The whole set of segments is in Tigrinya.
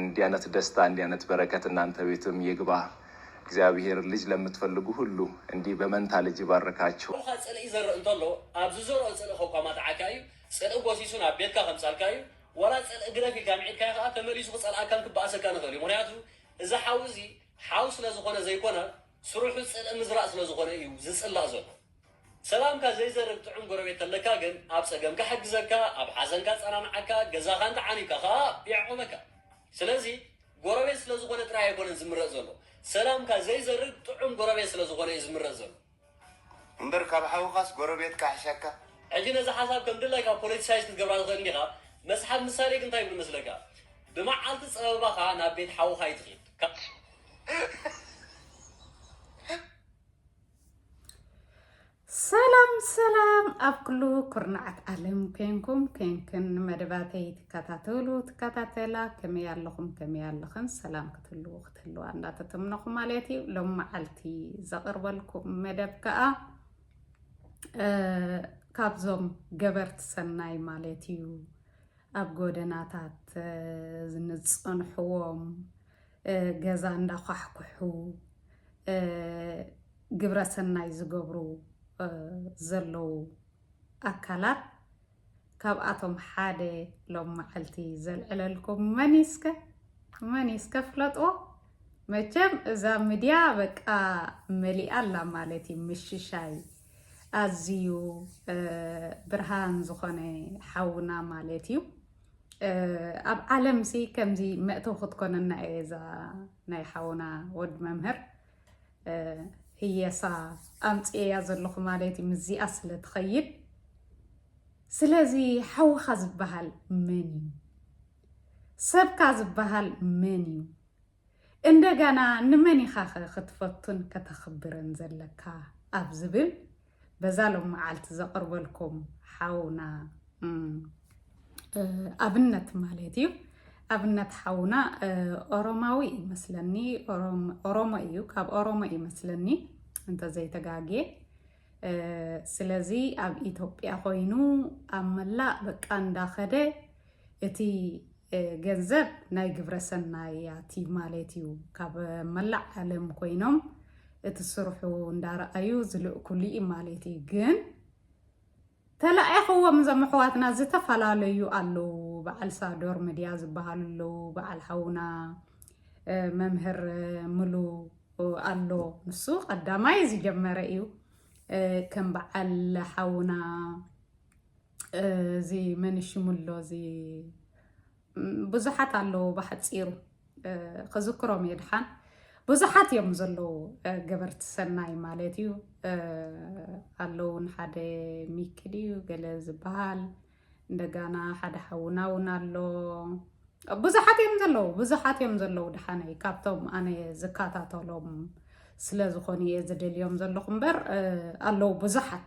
እንዲያነት ደስታ እንዲያነት በረከት እናንተ ቤትም ይግባ እግዚኣብሔር ልጅ ለምትፈልጉ ሁሉ እንዲህ በመንታ ልጅ ይባርካችሁ። ሩካ ጽልኢ ይዘርእ እንተሎ ኣብ ዝዘርኦ ጽልኢ ከኳማትዓካ እዩ ጽልኢ ጎሲሱ ናብ ቤትካ ከምጻልካ እዩ ዋላ ጽልኢ ግደፍ ኢልካ ምዒድካዮ ከኣ ተመሊሱ ክጸልኣካን ክበኣሰካን ይክእል እዩ ምክንያቱ እዚ ሓው እዚ ሓው ስለ ዝኮነ ዘይኮነ ስርሑ ጽልኢ ምዝራእ ስለ ዝኮነ እዩ ዝጽላእ ዘሎ ሰላምካ ዘይዘርግ ጥዑም ጎረቤት ተለካ ግን ኣብ ጸገምካ ሕግዘካ ኣብ ሓዘንካ ኣጸናንዓካ ገዛካ እንተ ዓኒብካ ከኣ የዕቁበካ ስለዚ ጎረቤት ስለ ዝኮነ ጥራይ ኣይኮነን ዝምረጽ ዘሎ ሰላምካ ዘይዘርግ ጥዑም ጎረቤት ስለ ዝኮነ እዩ ዝምረጽ ዘሎ እምበር ካብ ሓውካስ ጎረቤት ካሕሸካ። ሕጂ ነዛ ሓሳብ ከም ድላይካ ፖለቲሳይዝ ክትገብራ ትኽእል እንዲኻ መስሓብ ምሳሌ ግን እንታይ ይብል መስለካ ብመዓልቲ ጸበባኻ ናብ ቤት ሓውኻ ኣይትኺድ ካብ ሰላም ሰላም ኣብ ኩሉ ኩርናዓት ዓለም ኮንኩም ኮንክን መደባተይ ትከታተሉ ትከታተላ ከመይ ኣለኹም ከመይ ኣለኽን ሰላም ክትህልዉ ክትህልዋ እንዳተተምነኹ ማለት እዩ ሎም መዓልቲ ዘቕርበልኩም መደብ ከዓ ካብዞም ገበርቲ ሰናይ ማለት እዩ ኣብ ጎደናታት ዝንፀንሕዎም ገዛ እንዳኳሕኩሑ ግብረ ሰናይ ዝገብሩ ዘለዉ ኣካላት ካብኣቶም ሓደ ሎም መዓልቲ ዘልዕለልኩም መን እዩ እስከ መን እዩ እስከ ፍለጥዎ መቸም እዛ ሚድያ በቃ መሊኣ ኣላ ማለት እዩ ምሽሻይ ኣዝዩ ብርሃን ዝኾነ ሓውና ማለት እዩ ኣብ ዓለም ሲ ከምዚ መእተው ክትኮነና እየ እዛ ናይ ሓውና ወድ መምህር ህየሳ ኣምፅኤያ ዘለኹ ማለት እዩ ምስዚኣ ስለ ትኸይድ ስለዚ ሓውኻ ዝበሃል መን እዩ ሰብካ ዝበሃል መን እዩ እንደገና ንመን ኢኻኸ ክትፈቱን ከተኽብርን ዘለካ ኣብ ዝብል በዛ ሎምዓልቲ ዘቕርበልኩም ሓውና ኣብነት ማለት እዩ ኣብነት ሓውና ኦሮማዊ ይመስለኒ ኦሮሞ እዩ ካብ ኦሮሞ ይመስለኒ እንተዘይተጋግየ ስለዚ ኣብ ኢትዮጵያ ኮይኑ ኣብ መላእ በቃ እንዳኸደ እቲ ገንዘብ ናይ ግብረ ሰናያት እዩ ማለት እዩ። ካብ መላእ ዓለም ኮይኖም እቲ ስርሑ እንዳረኣዩ ዝልእኩሉ እዩ ማለት እዩ ግን ተላኢኽዎም እዞም ኣሕዋትና ዝተፈላለዩ ኣለዉ በዓል ሳዶር ምድያ ዝበሃሉ ኣለዉ በዓል ሓውና መምህር ምሉ ኣሎ ንሱ ቀዳማይ ዝጀመረ እዩ ከም በዓል ሓውና እዚ መንሽሙሎ እዚ ብዙሓት ኣለዉ ብሓፂሩ ክዝክሮም እየ ድሓን ብዙሓት እዮም ዘለዉ ገበርቲ ሰናይ ማለት እዩ ኣለዉ ንሓደ ሚክል እዩ ገለ ዝበሃል እንደጋና ሓደ ሓውና እውን ኣሎ ብዙሓት እዮም ዘለዉ ብዙሓት እዮም ዘለዉ ድሓነይ ካብቶም ኣነ ዝከታተሎም ስለ ዝኾኑ እየ ዝደልዮም ዘለኹ እምበር ኣለዉ ብዙሓት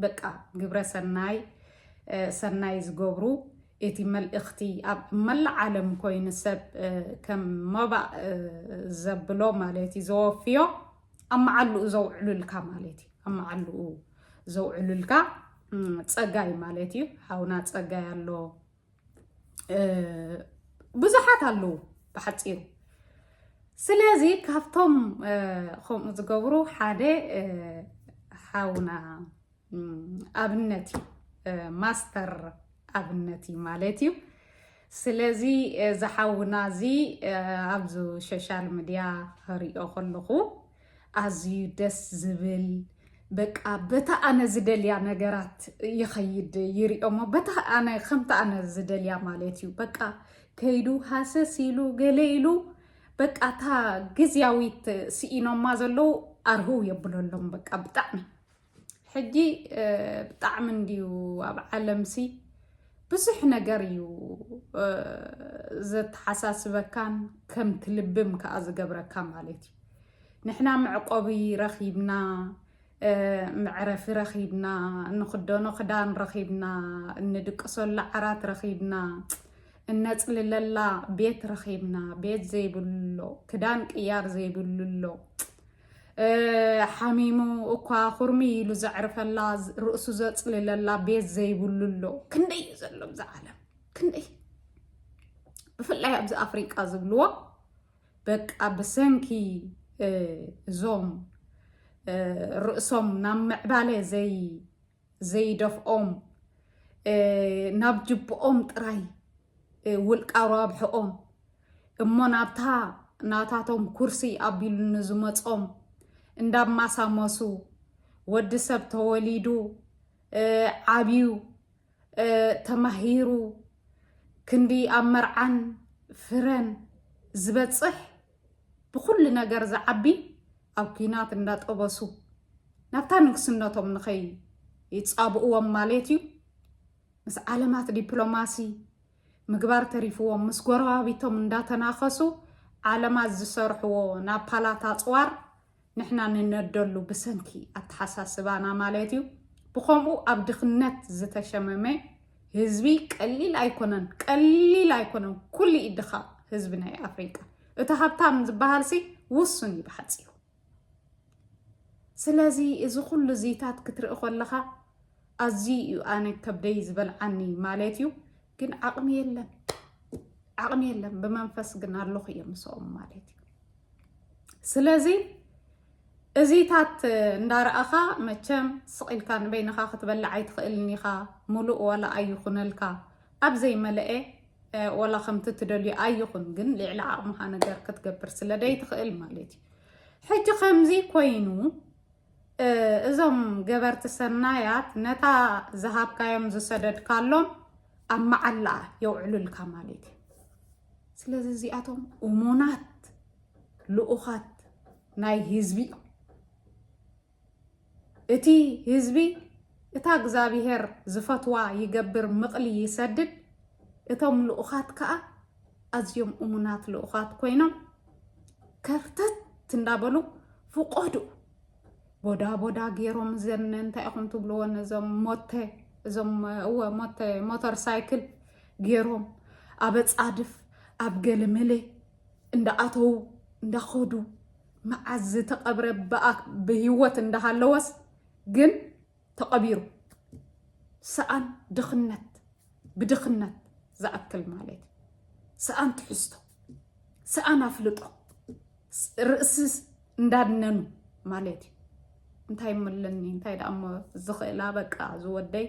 በቃ ግብረ ሰናይ ሰናይ ዝገብሩ እቲ መልእኽቲ ኣብ መላእ ዓለም ኮይኑ ሰብ ከም መባእ ዘብሎ ማለት እዩ ዘወፍዮ ኣብ መዓልኡ ዘውዕሉልካ ማለት እዩ ኣብ መዓልኡ ዘውዕሉልካ ፀጋይ ማለት እዩ ሓውና ፀጋይ ኣሎ ብዙሓት ኣለዉ ብሓፂሩ ስለዚ ካብቶም ከምኡ ዝገብሩ ሓደ ሓውና ኣብነት እዩ ማስተር ኣብነት እዩ ማለት እዩ ስለዚ ዝሓውና እዚ ኣብዚ ሶሻል ሚድያ ክሪኦ ከለኹ ኣዝዩ ደስ ዝብል በቃ በታ ኣነ ዝደልያ ነገራት ይኸይድ ይሪኦሞ በታ ኣነ ከምቲ ኣነ ዝደልያ ማለት እዩ በቃ ከይዱ ሃሰስ ኢሉ ገለ ኢሉ በቃ እታ ግዝያዊት ስኢኖማ ዘለዉ ኣርህው የብለሎም በቃ ብጣዕሚ ሕጂ ብጣዕሚ እንድዩ ኣብ ዓለምሲ ብዙሕ ነገር እዩ ዘተሓሳስበካን ከም ትልብም ከዓ ዝገብረካ ማለት እዩ ንሕና መዕቆቢ ረኺብና መዕረፊ ረኺብና እንኽደኖ ክዳን ረኺብና እንድቅሰሉ ዓራት ረኺብና እነፅልለላ ቤት ረኺብና ቤት ዘይብሉ ኣሎ ክዳን ቅያር ዘይብሉ ኣሎ ሓሚሙ እኳ ኩርሚ ኢሉ ዘዕርፈላ ርእሱ ዘፅልለላ ቤት ዘይብሉ ኣሎ ክንደይ እዩ ዘሎ ብዛ ዓለም ክንደይ ብፍላይ ኣብዚ ኣፍሪቃ ዝብልዎ በቃ ብሰንኪ እዞም ርእሶም ናብ ምዕባለ ዘይ ዘይደፍኦም ናብ ጅብኦም ጥራይ ውልቃ ሯብሕኦም እሞ ናብታ ናታቶም ኩርሲ ኣቢሉ ንዝመጾም እንዳማሳመሱ ወዲ ሰብ ተወሊዱ ዓብዩ ተማሂሩ ክንዲ ኣብ መርዓን ፍረን ዝበጽሕ ብኹሉ ነገር ዝዓቢ ኣብ ኩናት እንዳጠበሱ ናብታ ንግስነቶም ንኸይ ይጻብእዎም ማለት እዩ ምስ ዓለማት ዲፕሎማሲ ምግባር ተሪፍዎም ምስ ጎረባቢቶም እንዳተናኸሱ ዓለማት ዝሰርሕዎ ናብ ፓላት ኣፅዋር ንሕና ንነደሉ ብሰንኪ ኣተሓሳስባና ማለት እዩ ብከምኡ ኣብ ድክነት ዝተሸመመ ህዝቢ ቀሊል ኣይኮነን ቀሊል ኣይኮነን ኩሉ እዩ ድኻ ህዝቢ ናይ ኣፍሪቃ እቲ ሃብታም ዝበሃልሲ ውሱን እዩ ብሓፂሩ ስለዚ እዚ ኩሉ እዚታት ክትርኢ ከለኻ ኣዝዩ እዩ ኣነ ከብደይ ዝበልዓኒ ማለት እዩ ግን ዓቕሚ የለን ዓቕሚ የለን ብመንፈስ ግን ኣለኹ እየ ምስኦም ማለት እዩ ስለዚ እዚታት እንዳረኣኻ መቸም ስቂልካ ንበይንኻ ክትበልዕ ኣይትኽእልን ኢኻ ሙሉእ ዋላ ኣይኹነልካ ኣብ ዘይመለአ ዋላ ከምቲ ትደልዩ ኣይኹን ግን ልዕሊ ዓቕምኻ ነገር ክትገብር ስለደይትኽእል ማለት እዩ ሕጂ ከምዚ ኮይኑ እዞም ገበርቲ ሰናያት ነታ ዝሃብካዮም ዝሰደድካሎም ኣብ መዓላ የውዕሉልካ ማለት እዩ ስለዚ እዚኣቶም እሙናት ልኡኻት ናይ ህዝቢ እዮም እቲ ህዝቢ እታ እግዚኣብሄር ዝፈትዋ ይገብር ምቕሊ ይሰድድ እቶም ልኡኻት ከዓ ኣዝዮም እሙናት ልኡኻት ኮይኖም ከርተት እንዳበሉ ፍቆዱ ቦዳ ቦዳ ገይሮም ዘን እንታይ ኢኹም ትብልዎ ነዞም ሞተ እዞም እወ ሞተ ሞተር ሳይክል ገይሮም ኣብ ፃድፍ ኣብ ገለመለ እንዳኣተዉ እንዳኸዱ መዓዝ ዝተቐብረ ብሂወት እንዳሃለወስ ግን ተቐቢሩ ሰኣን ድኽነት ብድኽነት ዝኣክል ማለት እዩ። ሰኣን ትሕዝቶ፣ ሰኣን ኣፍልጦ፣ ርእሲ እንዳድነኑ ማለት እዩ። እንታይ ምለኒ እንታይ ደኣ እሞ ዝኽእላ በቃ ዝወደይ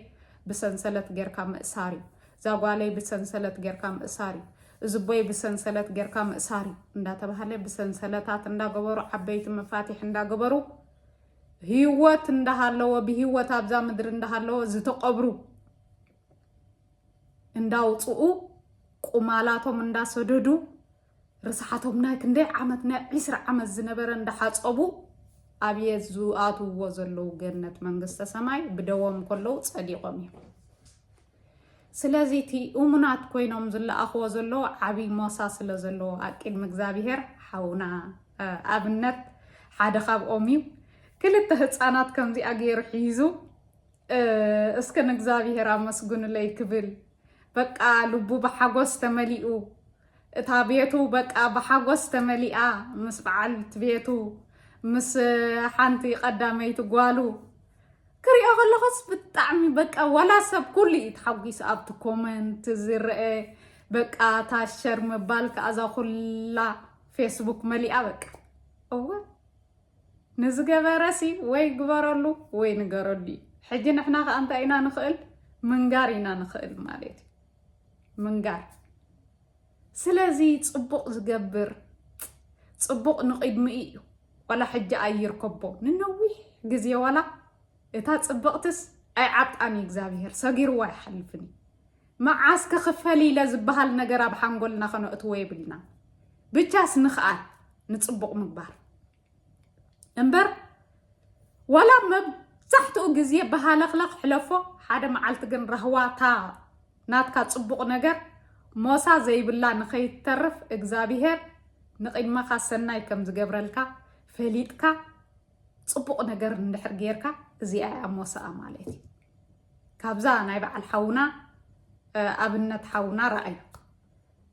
ብሰንሰለት ጌርካ ምእሳር እዩ። እዛ ጓለይ ብሰንሰለት ጌርካ ምእሳር እዩ። እዚ ቦይ ብሰንሰለት ጌርካ ምእሳር እዩ እንዳተባሃለ ብሰንሰለታት እንዳገበሩ ዓበይቲ መፋትሕ እንዳገበሩ ህይወት እንዳሃለዎ ብህይወት ኣብዛ ምድሪ እንዳሃለዎ ዝተቐብሩ እንዳውፅኡ ቁማላቶም እንዳሰደዱ ርስሓቶም ናይ ክንደይ ዓመት ናይ ዒስራ ዓመት ዝነበረ እንዳሓፀቡ ኣብየ ዝኣትውዎ ዘለዉ ገነት መንግስተ ሰማይ ብደዎም ከለዉ ፀዲቖም እዮም ስለዚ እቲ እሙናት ኮይኖም ዝለኣኽዎ ዘለዉ ዓብዪ ሞሳ ስለ ዘለዎ ኣብ ቅድሚ እግዚኣብሄር ሓውና ኣብነት ሓደ ካብኦም እዩ። ክልተ ህፃናት ከምዚኣ ገይሩ ሒዙ እስከ ንእግዚኣብሄር ኣመስግኑለይ ክብል በቃ ልቡ ብሓጎስ ተመሊኡ እታ ቤቱ በቃ ብሓጎስ ተመሊኣ ምስ በዓልቲ ቤቱ ምስ ሓንቲ ቀዳመይቲ ጓሉ ክሪኦ ከለኹስ ብጣዕሚ በቃ ዋላ ሰብ ኩሉ እዩ ተሓጒሱ ኣብቲ ኮመንት ዝረአ በቃ እታ ሸር ምባል ከዓ እዛ ኩላ ፌስቡክ መሊኣ በቃ እወ ንዝገበረሲ ወይ ግበረሉ ወይ ንገረሉ እዩ ሕጂ ንሕና ከዓ እንታይ ኢና ንኽእል ምንጋር ኢና ንኽእል ማለት እዩ ምንጋር ስለዚ ጽቡቅ ዝገብር ጽቡቅ ንቂድሚኡ እዩ ዋላ ሕጂ ኣይርከቦ ንነዊሕ ግዜ ዋላ እታ ጽብቅትስ ኣይዓብጣን እዩ እግዚኣብሄር ሰጊርዎ ኣይሓልፍን እዩ መዓስ ከ ክፈሊ ኢለ ዝበሃል ነገር ኣብ ሓንጎልና ከነእትዎ የብልና ብቻስ ንክኣል ንጽቡቅ ምግባር እምበር ዋላ መብዛሕትኡ ግዜ ብሃለኽለኽ ሕለፎ ሓደ መዓልቲ ግን ራህዋታ ናትካ ፅቡቕ ነገር ሞሳ ዘይብላ ንኸይተርፍ እግዚኣብሄር ንቕድመኻ ሰናይ ከም ዝገብረልካ ፈሊጥካ ፅቡቕ ነገር እንድሕር ጌርካ እዚኣ እያ ሞሳኣ ማለት እዩ ካብዛ ናይ በዓል ሓውና ኣብነት ሓውና ረኣዩ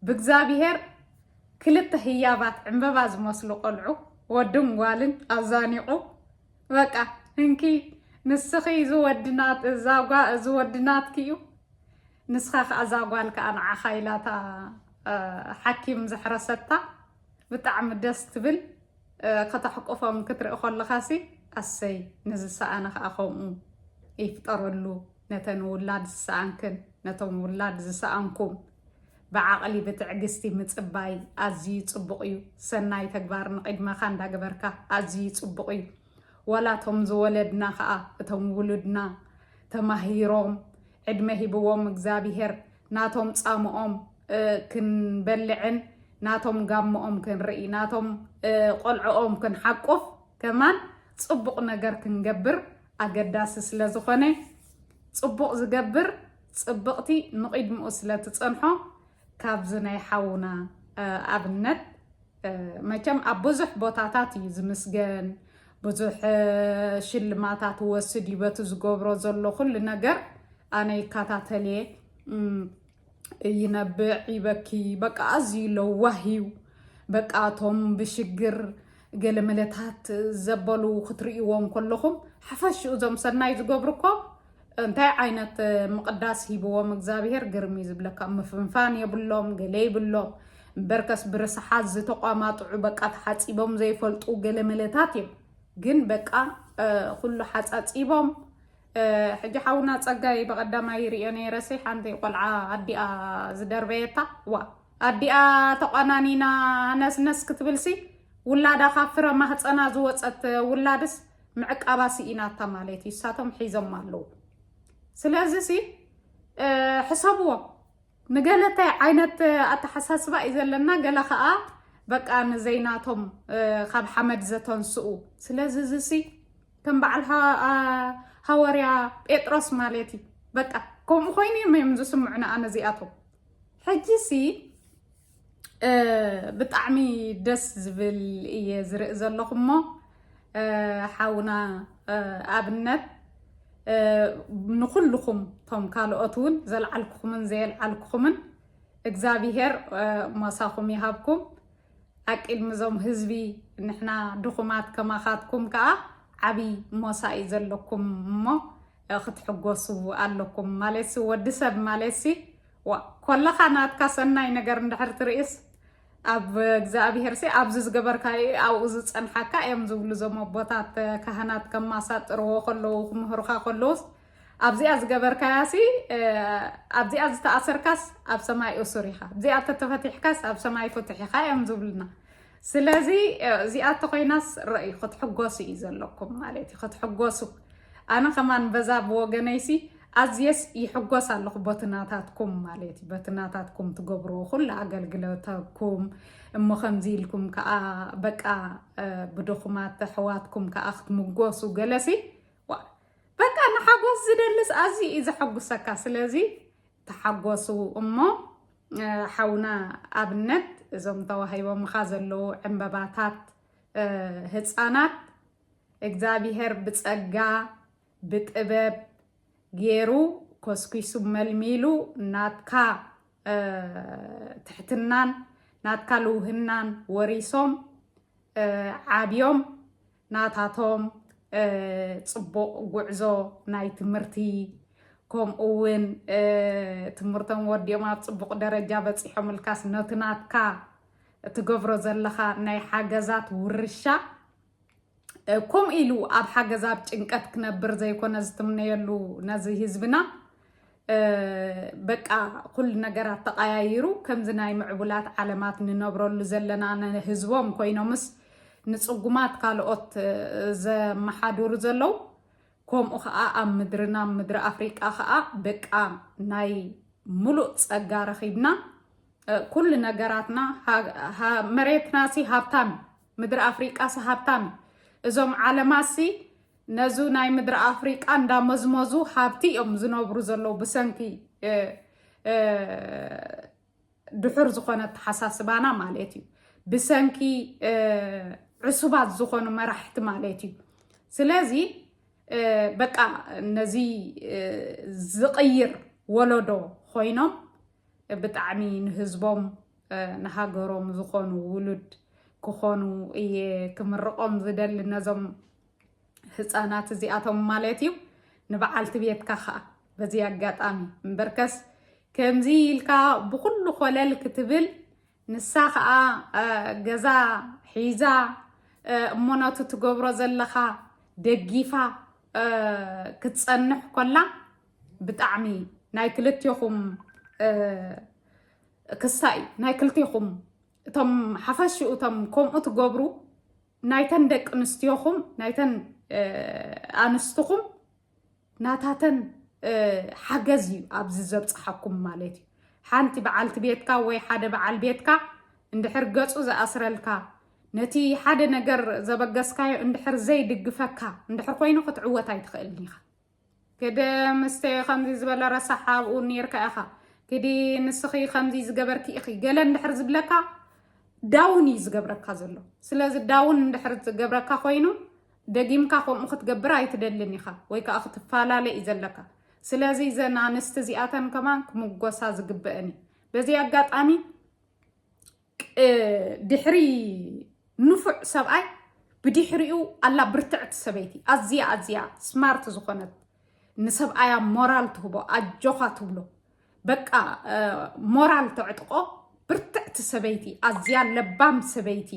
ብእግዚኣብሄር ክልተ ህያባት ዕምበባ ዝመስሉ ቆልዑ ወድን ጓልን ኣዛኒቑ በቃ እንኪ ንስኺ እዚ ወዲ ናት እዛ ጓ እዚ ወዲ ናትኪ እዩ ንስኻ ከዓ እዛ ጓል ከዓ ንዓኻ ኢላታ ሓኪም ዘሕረሰታ ብጣዕሚ ደስ ትብል ከተሕቁፎም ክትርኢ ከለኻሲ ኣሰይ ንዝሰኣነ ከዓ ከምኡ ይፍጠረሉ ነተን ውላድ ዝሰኣንክን ነቶም ውላድ ዝሰኣንኩም ብዓቕሊ ብትዕግስቲ ምጽባይ ኣዝዩ ጽቡቕ እዩ። ሰናይ ተግባር ንቕድመኻ እንዳገበርካ ኣዝዩ ጽቡቕ እዩ። ወላ እቶም ዝወለድና ከኣ እቶም ውሉድና ተማሂሮም ዕድመ ሂብዎም እግዚኣብሄር ናቶም ጻምኦም ክንበልዕን ናቶም ጋሞኦም ክንርኢ ናቶም ቆልዕኦም ክንሓቁፍ ከማን ጽቡቕ ነገር ክንገብር ኣገዳሲ ስለ ዝኾነ ጽቡቕ ዝገብር ፅብቅቲ ንቂድምኡ ስለ ትፀንሖ ካብዚ ናይ ሓውና ኣብነት መቸም ኣብ ብዙሕ ቦታታት እዩ ዝምስገን ብዙሕ ሽልማታት ወስድ እዩ በቲ ዝገብሮ ዘሎ ኩሉ ነገር ኣነ ይከታተልየ ይነብዕ ይበኪ በቃ ኣዝዩ ለዋህ እዩ በቃ እቶም ብሽግር ገለመለታት ዘበሉ ክትርእይዎም ከለኹም ሓፈሽኡ እዞም ሰናይ ዝገብሩ እኮ እንታይ ዓይነት ምቕዳስ ሂብዎም እግዚኣብሄር ግርም እዩ ዝብለካ ምፍንፋን የብሎም ገለ ይብሎም እምበርከስ ብርስሓት ዝተቋማጥዑ በቃ ተሓፂቦም ዘይፈልጡ ገለ መለታት እዮም ግን በቃ ኩሉ ሓፃፂቦም ሕጂ ሓውና ፀጋይ ብቐዳማይ ይርዮ ነይረሲ ሓንቲ ቆልዓ ኣዲኣ ዝደርበየታ ዋ ኣዲኣ ተቋናኒና ነስነስ ክትብልሲ ውላዳ ካብ ፍረ ማህፀና ዝወፀት ውላድስ ምዕቃባ ስኢናታ ማለት እዩ እሳቶም ሒዞም ኣለዉ ስለዚ ሲ ሕሰብዎ ንገለ እንታይ ዓይነት ኣተሓሳስባ እዩ ዘለና ገለ ከዓ በቃ ንዘይናቶም ካብ ሓመድ ዘተንስኡ ስለዚ እዚ ሲ ከም በዓል ሃወርያ ጴጥሮስ ማለት እዩ በቃ ከምኡ ኮይኑ እዮም እዮም ዝስምዑ ንኣነ እዚኣቶም ሕጂ ሲ ብጣዕሚ ደስ ዝብል እየ ዝርኢ ዘለኹ እሞ ሓውና ኣብነት ንኹልኹም እቶም ካልኦት እውን ዘልዓልኩኹምን ዘየልዓልኩኹምን እግዚኣብሄር ሞሳኹም ይሃብኩም ኣቂድሚ እዞም ህዝቢ ንሕና ድኹማት ከማኻትኩም ከዓ ዓብይ ሞሳ እዩ ዘለኩም እሞ ክትሕጎሱ ኣለኩም ማለት ወዲ ሰብ ማለት ዋእ ኮለኻ ናትካ ሰናይ ነገር እንድሕር ትርእስ ኣብ እግዚኣብሄርሲ ኣብዚ ዝገበርካዮ እዩ ኣብኡ ዝፀንሓካ እዮም ዝብሉ እዞም ኣቦታት ካህናት ከማሳጥርዎ ከለዉ ክምህሩካ ከለዉስ ኣብዚኣ ዝገበርካያሲ ኣብዚኣ ዝተኣሰርካስ ኣብ ሰማይ እሱር ኢኻ ኣብዚኣ ተተፈቲሕካስ ኣብ ሰማይ ፍቱሕ ኢኻ እዮም ዝብሉና ስለዚ እዚኣ ተኾይናስ ረእዩ ክትሕጎሱ እዩ ዘለኩም ማለት እዩ ክትሕጎሱ ኣነ ከማን በዛ ብወገነይሲ ኣዝየስ ይሕጎስ ኣለኹ ቦትናታትኩም ማለት እዩ በትናታትኩም ትገብርዎ ኩሉ ኣገልግሎተኩም እሞ ከምዚ ኢልኩም ከዓ በቃ ብድኹማት ኣሕዋትኩም ከዓ ክትምጎሱ ገለሲ በቃ ንሓጎስ ዝደልስ ኣዝዩ እዩ ዘሐጉሰካ ስለዚ ተሓጎሱ እሞ ሓውና ኣብነት እዞም ተዋሂቦምኻ ዘለዉ ዕንበባታት ህፃናት እግዚኣብሄር ብፀጋ ብጥበብ ገይሩ ኮስኪሱ መልሚሉ ናትካ ትሕትናን ናትካ ልውህናን ወሪሶም ዓብዮም ናታቶም ፅቡቕ ጉዕዞ ናይ ትምህርቲ ከምኡ እውን ትምህርቶም ወዲኦም ኣብ ፅቡቕ ደረጃ በፂሖም ልካስ ነቲ ናትካ እትገብሮ ዘለኻ ናይ ሓገዛት ውርሻ ከምኡ ኢሉ ኣብ ሓገዛብ ጭንቀት ክነብር ዘይኮነ ዝትምነየሉ ነዚ ህዝብና በቃ ኩሉ ነገራት ተቐያይሩ ከምዚ ናይ ምዕቡላት ዓለማት ንነብረሉ ዘለና ንህዝቦም ኮይኖምስ ንፅጉማት ካልኦት ዘመሓድሩ ዘለው ከምኡ ከዓ ኣብ ምድርና ኣብ ምድሪ ኣፍሪቃ ከዓ በቃ ናይ ሙሉእ ፀጋ ረኺብና ኩሉ ነገራትና መሬትና ሲ ሃብታም ምድሪ ኣፍሪቃ ሲ ሃብታም እዞም ዓለማት ሲ ነዙ ናይ ምድሪ ኣፍሪቃ እንዳመዝመዙ ሃብቲ እዮም ዝነብሩ ዘለዉ ብሰንኪ ድሑር ዝኾነ ኣተሓሳስባና ማለት እዩ ብሰንኪ ዕሱባት ዝኾኑ መራሕቲ ማለት እዩ ስለዚ በቃ ነዚ ዝቕይር ወለዶ ኮይኖም ብጣዕሚ ንህዝቦም ንሃገሮም ዝኾኑ ውሉድ ክኾኑ እየ ክምርቆም ዝደሊ ነዞም ህፃናት እዚኣቶም ማለት እዩ ንበዓልቲ ቤትካ ከዓ በዚ ኣጋጣሚ እምበርከስ ከምዚ ኢልካ ብኩሉ ኮለል ክትብል ንሳ ከዓ ገዛ ሒዛ እሞ ነቱ ትገብሮ ዘለካ ደጊፋ ክትፀንሕ ኮላ ብጣዕሚ ናይ ክልቴኹም ክሳ እዩ ናይ ክልቴኹም እቶም ሓፈሽኡ እቶም ከምኡ ትገብሩ ናይተን ደቂ ኣንስትዮኹም ናይተን ኣንስትኹም ናታተን ሓገዝ እዩ ኣብዚ ዘብፅሓኩም ማለት እዩ ሓንቲ በዓልቲ ቤትካ ወይ ሓደ በዓል ቤትካ እንድሕር ገፁ ዝኣስረልካ ነቲ ሓደ ነገር ዘበገስካዮ እንድሕር ዘይድግፈካ እንድሕር ኮይኑ ክትዕወት ኣይትኽእልን ኢኻ ክድ ምስቲ ከምዚ ዝበለ ረሳሕ ኣብኡ ኔርካ ኢኻ ክዲ ንስኺ ከምዚ ዝገበርኪ ኢኺ ገለ እንድሕር ዝብለካ ዳውን እዩ ዝገብረካ ዘሎ ስለዚ ዳውን እንድሕር ዝገብረካ ኮይኑ ደጊምካ ከምኡ ክትገብር ኣይትደልን ኢኻ ወይ ከዓ ክትፈላለ እዩ ዘለካ ስለዚ ዘን ኣንስቲ እዚኣተን ከማን ክምጎሳ ዝግበአን እዩ በዚ ኣጋጣሚ ድሕሪ ንፉዕ ሰብኣይ ብድሕሪኡ ኣላ ብርትዕቲ ሰበይቲ ኣዝያ ኣዝያ ስማርት ዝኾነት ንሰብኣያ ሞራል ትህቦ ኣጆኻ ትብሎ በቃ ሞራል ተዕጥቆ ብርትዕቲ ሰበይቲ ኣዝያ ለባም ሰበይቲ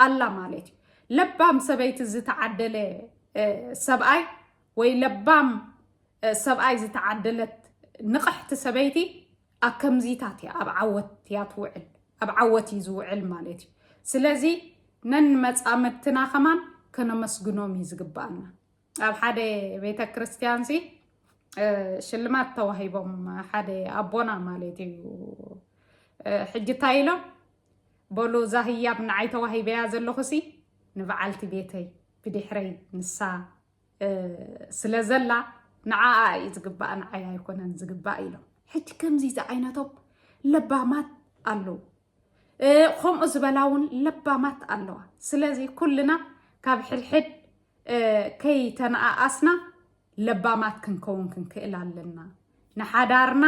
ኣላ ማለት እዩ። ለባም ሰበይቲ ዝተዓደለ ሰብኣይ ወይ ለባም ሰብኣይ ዝተዓደለት ንቕሕቲ ሰበይቲ ኣብ ከምዚታት እያ ኣብ ዓወት እያ ትውዕል ኣብ ዓወት እዩ ዝውዕል ማለት እዩ ስለዚ ነንመፃምድትና ከማን ከነመስግኖም እዩ ዝግባኣና ኣብ ሓደ ቤተ ክርስቲያን ሲ ሽልማት ተዋሂቦም ሓደ ኣቦና ማለት እዩ ሕጂ እንታይ ኢሎም በሉ እዛ ህያብ ንዓይ ተዋሂበያ ዘለኹ ሲ ንበዓልቲ ቤተይ ብድሕረይ ንሳ ስለ ዘላ ንዓኣ እዩ ዝግባእ ንዓይ ኣይኮነን ዝግባእ ኢሎም ሕጂ ከምዚ ዝዓይነቶም ለባማት ኣለዉ ከምኡ ዝበላ እውን ለባማት ኣለዋ ስለዚ ኩልና ካብ ሕድሕድ ከይተነኣኣስና ለባማት ክንከውን ክንክእል ኣለና ንሓዳርና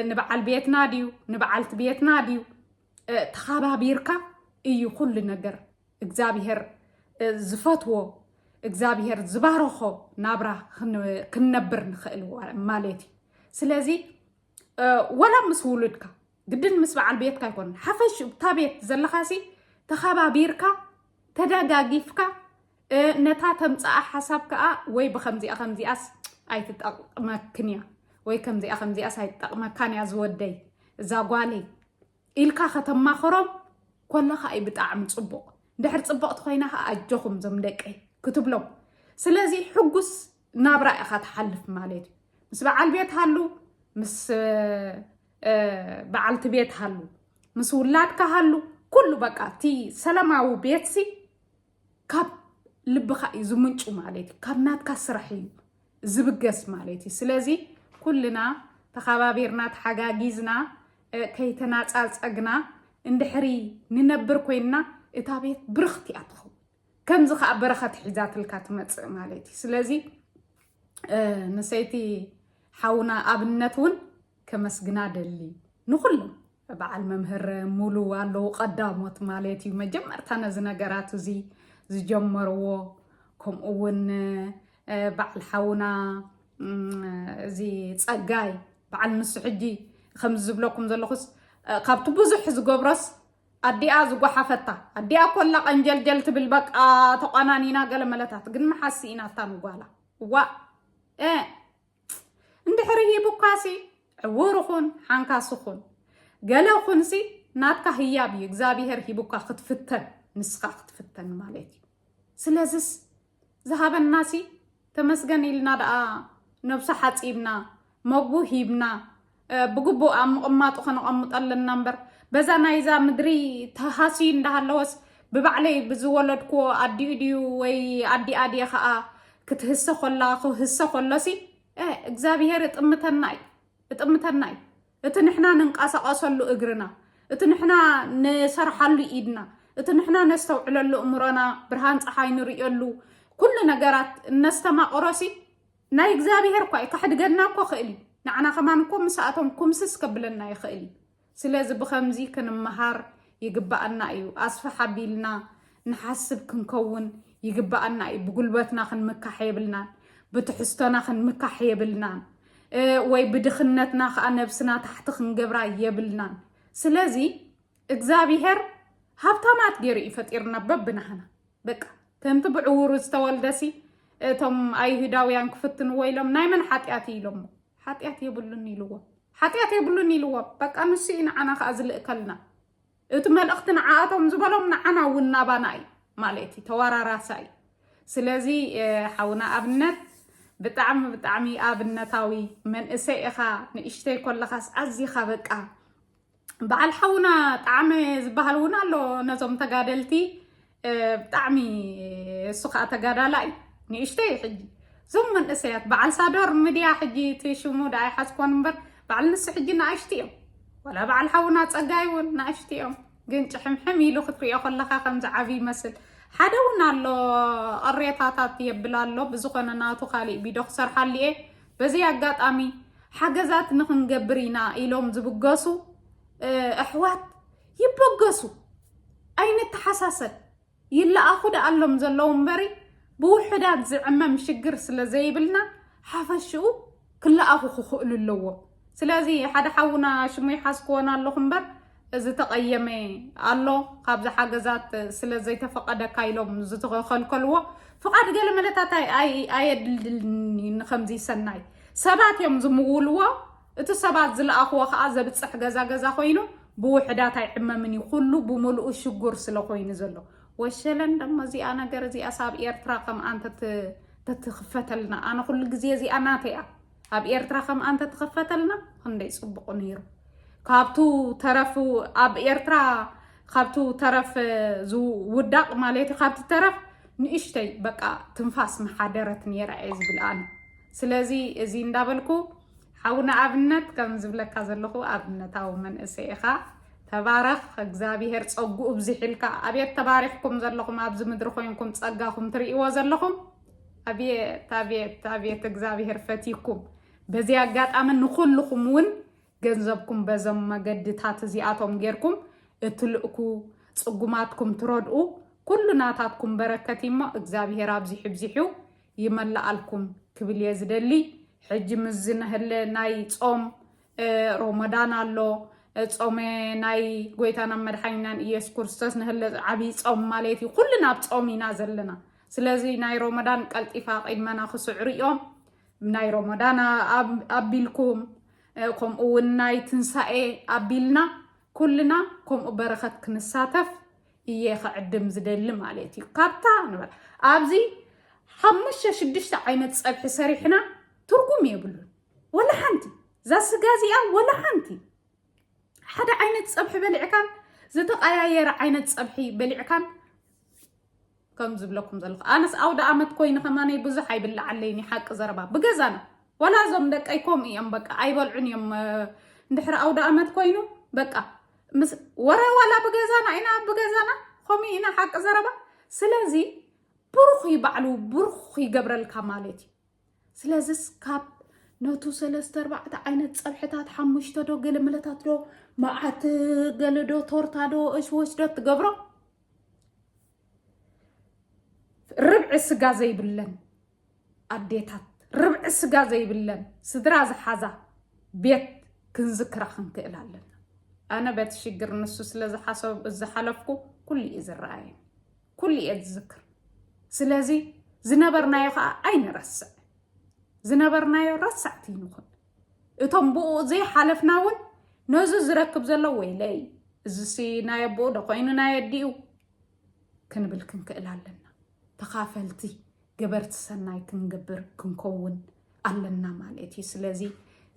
ንበዓል ቤትና ድዩ ንበዓልቲ ቤትና ድዩ ተኸባቢርካ እዩ ኩሉ ነገር እግዚኣብሄር ዝፈትዎ እግዚኣብሄር ዝባረኾ ናብራ ክንነብር ንኽእል ማለት እዩ ስለዚ ወላ ምስ ውሉድካ ግድን ምስ በዓል ቤትካ ኣይኮነን ሓፈሽ እታ ቤት ዘለኻሲ ተኸባቢርካ ተደጋጊፍካ ነታ ተምፃኣ ሓሳብ ከዓ ወይ ብከምዚኣ ከምዚኣስ ኣይትጠቅመክን እያ ወይ ከምዚኣ ከምዚኣስ ኣይትጠቅመካን እያ ዝወደይ እዛ ጓለይ ኢልካ ከተማኽሮም ኮለኻ እዩ ብጣዕሚ ፅቡቕ ድሕር ፅብቕቲ ኮይና ከዓ ኣጆኹም ዞም ደቀይ ክትብሎም ስለዚ ሕጉስ ናብራ ኢኻ ትሓልፍ ማለት እዩ ምስ በዓል ቤት ሃሉ ምስ በዓልቲ ቤት ሃሉ ምስ ውላድካ ሃሉ ኩሉ በቃ እቲ ሰላማዊ ቤትሲ ካብ ልብኻ እዩ ዝምንጩ ማለት እዩ ካብ ናትካ ስራሕ እዩ ዝብገስ ማለት እዩ ስለዚ ኩልና ተኸባቢርና ተሓጋጊዝና ከይተናፃፀግና እንድሕሪ ንነብር ኮይንና እታ ቤት ብርኽቲ እያ ትኸውን ከምዚ ከዓ በረኸት ሒዛትልካ ትመፅእ ማለት እዩ ስለዚ ንሰይቲ ሓውና ኣብነት እውን ከመስግና ደሊ ንኩሎም በዓል መምህር ሙሉ ኣለዉ ቀዳሞት ማለት እዩ መጀመርታ ነዚ ነገራት እዚ ዝጀመርዎ ከምኡ እውን በዓል ሓውና እዚ ፀጋይ በዓል ንሱ ሕጂ ከምዚ ዝብለኩም ዘለኹስ ካብቲ ብዙሕ ዝገብሮስ ኣዲኣ ዝጓሓፈታ ኣዲኣ ኮላ ቀንጀልጀል ትብል በቃ ተቋናኒና ገለ መለታት ግን መሓሲ ኢና እታ ንጓላ እዋ እንድሕሪ ሂቡካሲ ዕውር ኹን ሓንካሲ ኹን ገለ ኹንሲ ናትካ ህያብ እዩ እግዚኣብሄር ሂቡካ ክትፍተን ንስኻ ክትፍተን ማለት እዩ ስለዚስ ዝሃበናሲ ተመስገን ኢልና ደኣ ነብሱ ሓፂብና መግቡ ሂብና ብግቡእ ኣብ ምቕማጡ ከነቐምጦ ኣለና እምበር በዛ ናይዛ ምድሪ ተሃስዩ እንዳሃለወስ ብባዕለይ ብዝወለድክዎ ኣዲኡ ድዩ ወይ ኣዲኣ ድየ ከዓ ክትህሰ ኮላ ክህሰ ኮሎሲ እግዚኣብሄር እጥምተና እዩ እጥምተና እዩ እቲ ንሕና ንንቀሳቐሰሉ እግርና እቲ ንሕና ንሰርሓሉ ኢድና እቲ ንሕና ነስተውዕለሉ እምሮና ብርሃን ፀሓይ ንርእየሉ ኩሉ ነገራት እነስተማቕሮሲ ናይ እግዚኣብሔር እኳ እዩ ከሕድገና እኮ ክእል እዩ ንዓና ከማን እኮ ምስኣቶም ኩምስስ ከብለና ይኽእል እዩ ስለዚ ብከምዚ ክንመሃር ይግባኣና እዩ ኣስፍሕ ኣቢልና ንሓስብ ክንከውን ይግባኣና እዩ ብጉልበትና ክንምካሕ የብልናን ብትሕዝቶና ክንምካሕ የብልናን ወይ ብድኽነትና ከዓ ነብስና ታሕቲ ክንገብራ የብልናን ስለዚ እግዚኣብሄር ሃብታማት ገይሩ እዩ ፈጢርና በብናህና በቃ ከምቲ ብዕውሩ ዝተወልደሲ እቶም ኣይሁዳውያን ክፍትንዎ ኢሎም ናይ መን ሓጢኣት እዩ ኢሎሞ ሓጢኣት የብሉን ኢልዎ ሓጢኣት የብሉን ኢልዎ በቃ ንሱ እዩ ንዓና ከዓ ዝልእከልና እቲ መልእኽቲ ንዓኣቶም ዝበሎም ንዓና እውን ናባና እዩ ማለት እዩ ተወራራሳ እዩ ስለዚ ሓውና ኣብነት ብጣዕሚ ብጣዕሚ ኣብነታዊ መንእሰይ ኢኻ ንእሽተይ ኮለኻስ ኣዚኻ በቃ በዓል ሓውና ጣዕመ ዝበሃል እውን ኣሎ ነዞም ተጋደልቲ ብጣዕሚ እሱ ከዓ ተጋዳላይ ንእሽተይ ሕጂ እዞም መንእሰያት በዓል ሳዶር ሚድያ ሕጂ እቲ ሽሙ ደኣ ይሓዝኮን እምበር በዓል ንሱ ሕጂ ንኣሽቲ እዮም ወላ በዓል ሓውና ፀጋይ እውን ንኣሽቲ እዮም ግን ጭሕምሕም ኢሉ ክትሪኦ ከለካ ከምዚ ዓብዪ ይመስል ሓደ እውን ኣሎ ቅሬታታት የብል ኣሎ ብዝኾነ ናቱ ካሊእ ቢዶ ክሰርሓሉ እየ በዚ ኣጋጣሚ ሓገዛት ንክንገብር ኢና ኢሎም ዝብገሱ ኣሕዋት ይበገሱ፣ ኣይንተሓሳሰብ፣ ይለኣኹ ደኣሎም ዘለዉ እምበሪ ብውሑዳት ዝዕመም ሽግር ስለ ዘይብልና ሓፈሽኡ ክለኣኹ ክኽእሉ ኣለዎም። ስለዚ ሓደ ሓውና ሽሙ ይሓዝክዎን ኣለኹ እምበር ዝተቐየመ ኣሎ ካብዚ ሓገዛት ስለ ዘይተፈቐደካ ኢሎም ዝተኸልከልዎ ፍቓድ ገለመለታት ኣየድልድልን እዩ ንከምዚ ሰናይ ሰባት እዮም ዝምውልዎ እቲ ሰባት ዝለኣኽዎ ከዓ ዘብፅሕ ገዛ ገዛ ኮይኑ ብውሕዳት ኣይዕመምን እዩ ኩሉ ብምልኡ ሽጉር ስለ ኮይኑ ዘሎ ወሸለን ደሞ እዚኣ ነገር እዚኣ ሳብ ኤርትራ ከም ኣንተ ተትኽፈተልና ኣነ ኩሉ ግዜ እዚኣ ናተይ እያ ኣብ ኤርትራ ከምኣ እንተተኸፈተልና ክንደይ ጽቡቕ ነይሩ። ካብቱ ተረፍ ኣብ ኤርትራ ካብቱ ተረፍ ዝውዳቕ ማለት እዩ ካብቲ ተረፍ ንእሽተይ በቃ ትንፋስ መሓደረት ነይራ እየ ዝብል ኣነ ስለዚ እዚ እንዳበልኩ ሓውና ኣብነት ከም ዝብለካ ዘለኹ ኣብነታዊ መንእሰይ ኢኻ ተባረኽ እግዚኣብሄር ፀጉኡ ብዝሒልካ ኣብየት ተባሪኽኩም ዘለኹም ኣብዚ ምድሪ ኮይንኩም ፀጋኹም ትርእይዎ ዘለኹም ኣቤት ኣቤት ኣቤት እግዚኣብሄር ፈትይኩም። በዚ ኣጋጣሚ ንኹልኹም እውን ገንዘብኩም በዞም መገድታት እዚኣቶም ጌርኩም እትልእኩ ፅጉማትኩም ትረድኡ ኩሉ ናታትኩም በረከት እሞ እግዚኣብሄር ኣብዚሑ ብዚሑ ይመላኣልኩም ክብል እየ ዝደሊ። ሕጂ ምስ ዝነህለ ናይ ጾም ሮሞዳን ኣሎ ጾመ ናይ ጎይታና መድሓኒናን ኢየሱስ ክርስቶስ ንህለ ዓብይ ጾም ማለት እዩ። ኩልና ኣብ ጾም ኢና ዘለና። ስለዚ ናይ ሮሞዳን ቀልጢፋ ቂድመና ክስዕሩ እዮም ናይ ሮሞዳን ኣቢልኩም ከምኡ እውን ናይ ትንሳኤ ኣቢልና ኩልና ከምኡ በረኸት ክንሳተፍ እየ ክዕድም ዝደሊ ማለት እዩ ካብታ ንበል ኣብዚ ሓሙሽተ ሽዱሽተ ዓይነት ፀብሒ ሰሪሕና ትርጉም የብሉን ወላ ሓንቲ እዛ ስጋ እዚኣ ወላ ሓንቲ ሓደ ዓይነት ፀብሒ በሊዕካን ዝተቀያየረ ዓይነት ፀብሒ በሊዕካን ከም ዝብለኩም ዘለኹ ኣነስ ኣውደኣመት ኮይኑ ከማነይ ብዙሕ ኣይብላዓለይን እዩ ሓቂ ዘረባ ብገዛና ዋላ እዞም ደቀይ ከምኡ እዮም በቃ ኣይበልዑን እዮም እንድሕሪ ኣውደኣመት ኮይኑ በቃ ወረ ዋላ ብገዛና ኢና ብገዛና ከምኡ ኢና ሓቂ ዘረባ ስለዚ ብሩኽ ይባዕሉ ብሩኽ ይገብረልካ ማለት እዩ ስለዚስ ካብ ነቱ ሰለስተ ኣርባዕተ ዓይነት ፀብሕታት ሓሙሽተ ዶ ገለመለታት ዶ መዓት ገለዶ ቶርታ ዶ እሽወሽ ዶ ትገብሮ ርብዒ ስጋ ዘይብለን ኣዴታት ርብዒ ስጋ ዘይብለን ስድራ ዝሓዛ ቤት ክንዝክራ ክንክእል ኣለና ኣነ በቲ ሽግር ንሱ ስለ ዝሓለፍኩ ኩሉ እዩ ዝረኣየ ኩሉ እየ ዝዝክር ስለዚ ዝነበርናዮ ከዓ ኣይንረስዕ ዝነበርናዮ ረሳዕቲ ንኹን እቶም ብኡ ዘይሓለፍና እውን ነዚ ዝረክብ ዘሎ ወይለይ እዚሲ ናይ ኣቦኡ ዶ ኮይኑ ናይ ኣዲኡ ክንብል ክንክእል ኣለና ተኻፈልቲ ገበርቲ ሰናይ ክንገብር ክንከውን ኣለና ማለት እዩ ስለዚ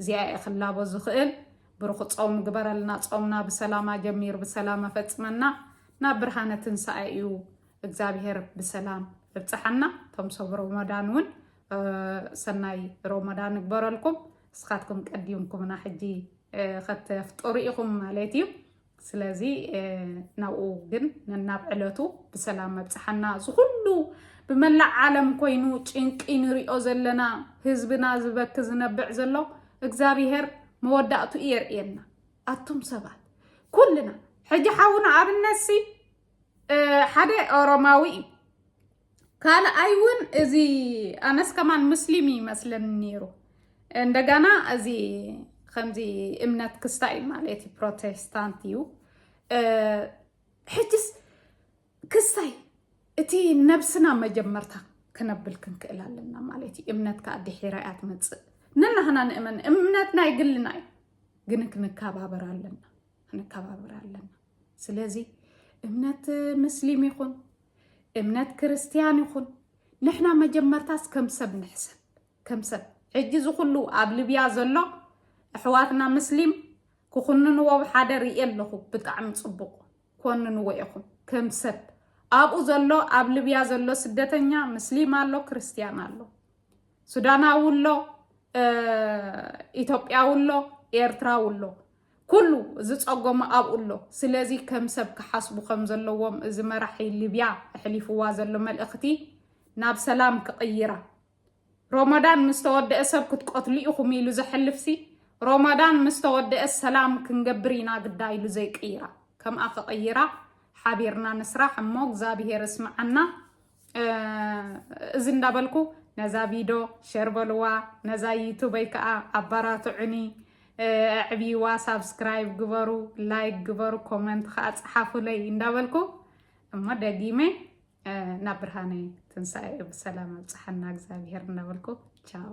እዚኣ እየ ክላቦ ዝኽእል ብሩኽ ጾም ግበረልና ጾምና ብሰላም ኣጀሚሩ ብሰላም ኣፈጽመና ናብ ብርሃነ ትንሳኤ እዩ እግዚኣብሄር ብሰላም እብፅሓና እቶም ሰብ ሮሞዳን እውን ሰናይ ሮሞዳን እግበረልኩም እስኻትኩም ቀዲምኩምና ሕጂ ከተፍጥሩ ኢኹም ማለት እዩ ስለዚ ናብኡ ግን ነናብ ዕለቱ ብሰላም ኣብፅሓና እዚ ኩሉ ብመላእ ዓለም ኮይኑ ጭንቂ ንሪኦ ዘለና ህዝብና ዝበክ ዝነብዕ ዘሎ እግዚኣብሄር መወዳእቱ የርእየና ኣቱም ሰባት ኩልና ሕጂ ሓውና ኣብነሲ ሓደ ኦሮማዊ እዩ ካልኣይ እውን እዚ ኣነስ ከማን ሙስሊም ይመስለኒ ነይሩ እንደገና እዚ ከምዚ እምነት ክስታ እዩ ማለት እዩ ፕሮቴስታንት እዩ ሕጅስ ክስታይ እቲ ነብስና መጀመርታ ክነብል ክንክእል ኣለና ማለት እዩ እምነት ከዓ ድሒራ እያ ትመፅእ ንናህና ንእመን እምነት ናይ ግልና እዩ ግን ክንከባበር ኣለና ክንከባበር ኣለና ስለዚ እምነት ምስሊም ይኹን እምነት ክርስትያን ይኹን ንሕና መጀመርታስ ከም ሰብ ንሕሰብ ከም ሰብ ሕጂ እዚ ኩሉ ኣብ ልብያ ዘሎ ኣሕዋትና ምስሊም ክኹንንዎ ሓደ ርእየ ኣለኹ ብጣዕሚ ፅቡቕ ኮንንዎ ኢኹም ከም ሰብ ኣብኡ ዘሎ ኣብ ልብያ ዘሎ ስደተኛ ምስሊም ኣሎ ክርስትያን ኣሎ ሱዳናዊ ኣሎ ኢትዮጵያዊ ኣሎ ኤርትራዊ ኣሎ ኩሉ ዝጸጎመ ኣብኡ ኣሎ። ስለዚ ከም ሰብ ክሓስቡ ከም ዘለዎም እዚ መራሒ ሊብያ ኣሕሊፍዋ ዘሎ መልእኽቲ ናብ ሰላም ክቕይራ ሮሞዳን ምስ ተወደአ ሰብ ክትቀትሉ ኢኹም ኢሉ ዘሕልፍሲ ሮሞዳን ምስ ተወደአ ሰላም ክንገብር ኢና ግዳ ኢሉ ዘይቅይራ ከምኣ ክቕይራ ሓቢርና ንስራሕ እሞ እግዚኣብሄር እስምዓና እዚ እንዳበልኩ ነዛ ቪዶ ሸር በልዋ ነዛ ዩቱበይ ከዓ ኣባራትዑኒ ዕብይዋ ሳብስክራይብ ግበሩ ላይክ ግበሩ ኮመንት ከዓ ፀሓፉለይ እንዳበልኩ እሞ ደጊመ ናብ ብርሃነ ትንሳኤ ብሰላም ኣብፅሓና እግዚኣብሄር እንዳበልኩ ቻው